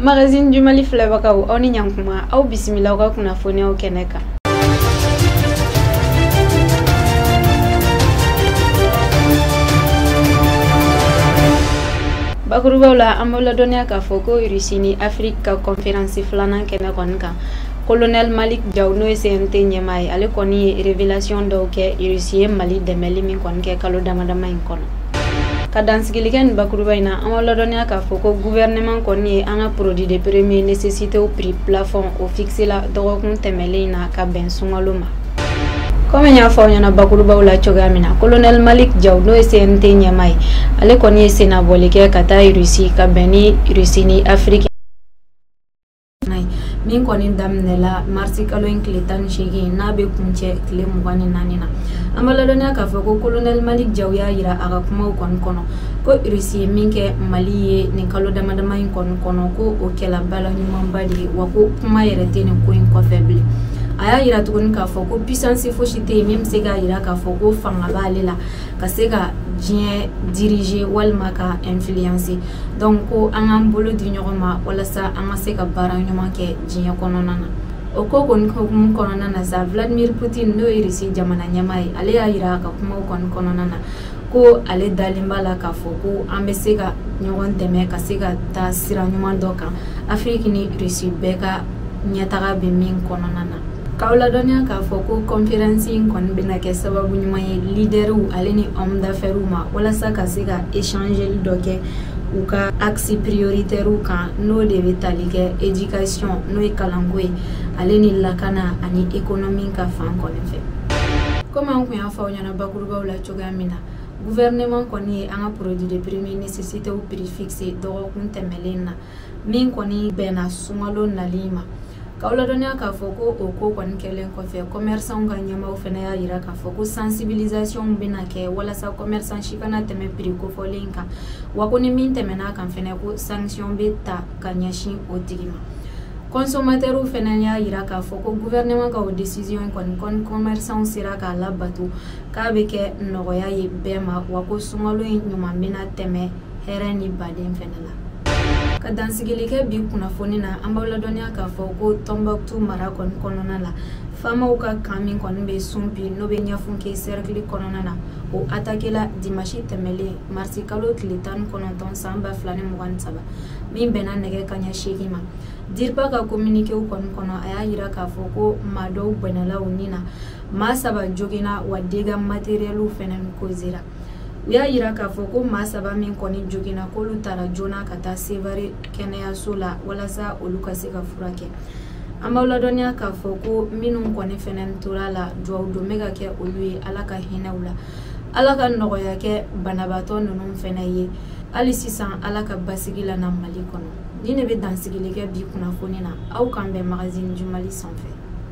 Magazine du Mali filɛbagaw aw ni ɲankuma aw bisimila aw ka kunnafoniyaw kɛnɛ kan bakurubaw la an b'aw ladɔnniya k'a fɔ ko irisi ni afiriki ka kɔnferansi filanan kɛnɛ kɔni kan kolonɛli malik jaw n'o ye cnt ɲɛmaa ye ale kɔni ye révélation dɔw kɛ irisi ye mali dɛmɛli min kɔni kɛ kalo damadama in kɔnɔ ka dansigilikɛ nin bakuruba in na an b'aw ladɔnniya k'a fɔ ko guvɛrɛnɛman kɔni ye an ka produit de première nécessitéw prix plafond o fixé la dɔgɔkun tɛmɛlen in na ka bɛn sunkalo ma komi n y'a fɔ aw ɲɛna bakurubaw la cogoya min na kolonɛli malik jaw n'o ye cnt ɲɛmaa ye ale kɔni ye sennabɔli kɛ ka taa irisi ka bɛn ni irisi ni afiriki min kɔni daminɛla marisi kalo in tile tan ni seegin n'a bɛ kuncɛ tile mugan ni naani na an b'aw ladɔnniya k'a fɔ ko kolonɛli malik jaw y'a yira a ka kumaw kɔni kɔnɔ ko irisi ye min kɛ mali ye nin kalo damadama in kɔni kɔnɔ ko o kɛla bala ɲumanba de ye wa ko kuma yɛrɛ tɛ nin ko in kɔfɛ bilen a y'a yira tuguni k'a fɔ ko puissance fosi tɛ yen min bɛ se k'a yira k'a fɔ ko fanga b'ale la ka se ka diɲɛ diriger walima ka influencer dɔnku ko an k'an bolo di ɲɔgɔn ma walasa an ka se ka baara ɲuman kɛ diɲɛ kɔnɔna na o ko kɔni hukumu kɔnɔna na sa vladimir putin n'o ye risi jamana ɲɛmaa ye ale y'a yira a ka kumaw kɔni kɔnɔna na ko ale dalen b'a la k'a fɔ ko an bɛ se ka ɲɔgɔn dɛmɛ ka se ka taa sira ɲuman dɔ kan afiriki ni risi bɛɛ ka ɲɛtaga bɛ min kɔnɔna na K'aw ladɔnniya k'a fɔ ko kɔnferansi in kɔni bɛna kɛ sababu ɲuman ye lidɛriw ale ni homme d'affaires ma walasa ka se ka échangeli dɔ kɛ u ka axe prioritairew kan n'o de bɛ tali kɛ éducation n'o ye kalanko ye ale ni lakana ani économie ka fan kɔni fɛ komi an kun y'a fɔ aw ɲɛna bakurubaw la cogoya min na gouvernement kɔni ye an ka produit de première nécessitéw prix fixé dɔgɔkun tɛmɛlen na min kɔni bɛnna sunkalo nali ma k'aw ladɔnniya k'a fɔ ko o ko kɔni kɛlen kɔfɛ kɔmɛrisanw ka ɲɛmaaw fana y'a yira k'a fɔ ko sansibilisasiɔnw bɛna kɛ walasa kɔmɛrisan si kana tɛmɛ piri kofɔlen kan wa ko ni min tɛmɛn'a kan fana ko sankisiyɔn bɛ ta ka ɲɛsin o tigi ma kɔnsɔmatɛriw fana y'a yira k'a fɔ ko guvɛrɛnɛman ka o desisiyɔn kɔni ko ni kɔmɛrisanw sera k'a labato k'a bɛ kɛ nɔgɔya ye bɛɛ ma wa ko sunkalo in ɲuman bɛna tɛmɛ hɛrɛ ni baden fɛnɛ la ka dansigili kɛ bi kunnafoni na an b'aw ladɔnniya k'a fɔ ko tɔnbuktu mara kɔni kɔnɔna la famaw ka kan min kɔni bɛ sunpi n'o bɛ ɲafunke sɛrɛkili kɔnɔna na o atakela dimasi tɛmɛlen marisi kalo tile tan ni kɔnɔntɔn san ba fila ni mugan ni saba min bɛnna nɛgɛ kaɲɛ seegin ma dirpa ka kominikew kɔni kɔnɔ a y'a yira k'a fɔ ko maa dɔw bɔnɛla u ni na maa saba joginna wa dega materiɛliw fɛnɛ kozera u y'a yira k'a fɔ ko maa saba min kɔni joginna k'olu tara joona ka taa sevare kɛnɛyaso la walasa olu ka se ka furakɛ an b'aw ladɔnniya k'a fɔ ko minnu kɔni fɛnɛ tor'a la duwawu don bɛ ka kɛ olu ye ala ka hinɛ u la ala ka nɔgɔya kɛ banabaatɔ ninnu fɛnɛ ye hali sisan ala ka basigi lana mali kɔnɔ nin de bɛ dansigili kɛ bi kunnafoni na aw k'an bɛn magazine du mali sanfɛ